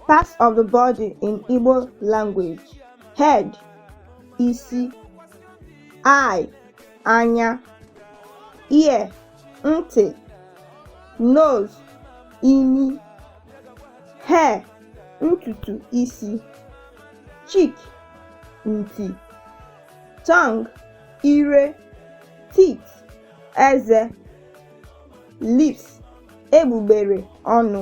Parts of the body in Igbo language. Head, isi, eye, anya, ear, ntị, nose, imi, hair, ntutu isi, cheek, nti, tongue, ire, teeth, eze, lips, egbugbere ọnụ.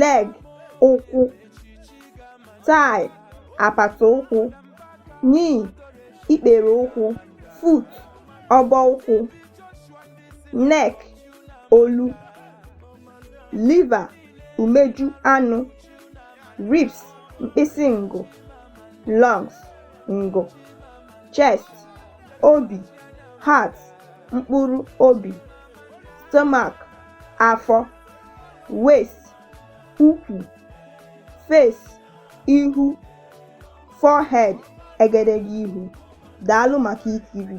leg ụkwụ thigh apata ụkwụ knee ikpere ụkwụ foot ọbọ ụkwụ neck olu liver umeju anụ ribs mkpịsị ngụ lungs ngụ chest obi heart mkpụrụ obi stomach afọ waist ukwu face ihu forehead egedege ihu. Daalụ maka ikiri.